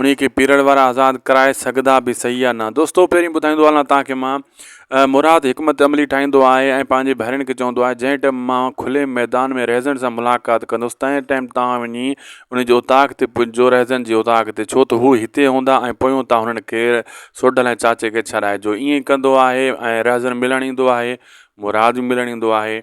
انهي کي پيرڙ وارا آزاد ڪرائي سگهدا به صحيح يا نه دوستو پهرين ٻڌائيندو هلان توهان کي مان مراد حڪمت عملي ٺاهيندو آهي ۽ پنهنجي ڀائرن کي چوندو آهي جنهن ٽيم مان کلي ميدان ۾ رهزن سان ملاقات ڪندس تنهن ٽيم توهان وڃي ان جي اوطاق تي پجو رهزن جي اوطاق تي ڇو ته هو هتي هوندا ۽ پويون توهان هنن کي سوڍل ۽ چاچي کي ڇڏائجو ائين ڪندو آهي ۽ رهزن ملڻ ايندو آهي مراد به ملڻ ايندو آهي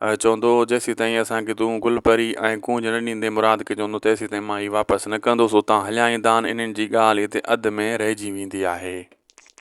چوندو هو، جيسيتائين اسان کي تون گل پري ۽ ڪونج نه ڏيندين مراد کي چوندو هو ته تيسيتائين مان هي واپس نه ڪندس، اتان هليا ايندان، انهن جي ڳالهه هتي اڌ ۾ رهجي ويندي آهي.